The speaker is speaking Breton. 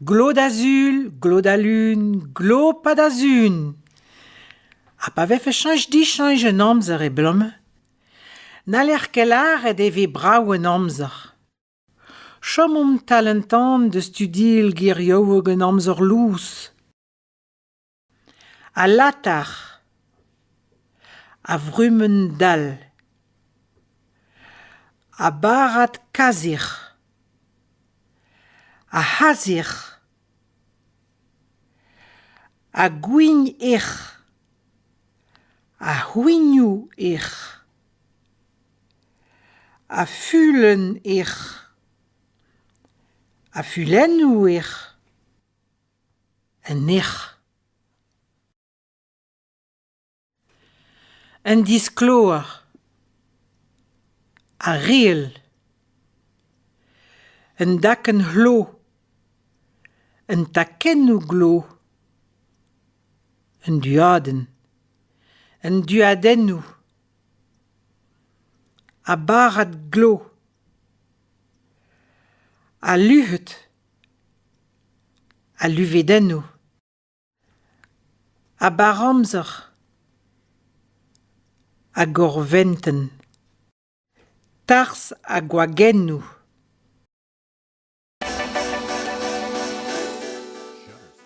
Glot azul, glot a lun, glopad azun. Ha pa vefe cheñch dicheñch un amzer e-blom, n'haller ket lâret e ve brav an amzer. Chomomp tal an tan da studial gerioù hag an amzer lous. Al latar, a vrumenn dall, a barrad kazirr, a c'hazirr, a gwign erc'h, a c'hwignoù erc'h, a fulenn erc'h, a fulennoù erc'h. Un erc'h. Un diskloer. Ar reel. Un dakenn c'hlo. Un takennoù glo. Un duadenn. Un duadennoù. Ha barrad glo. Ha luc'hed. Al luvedennoù. A bar amzer. A gorventenn. Tarzh ha gwagennoù.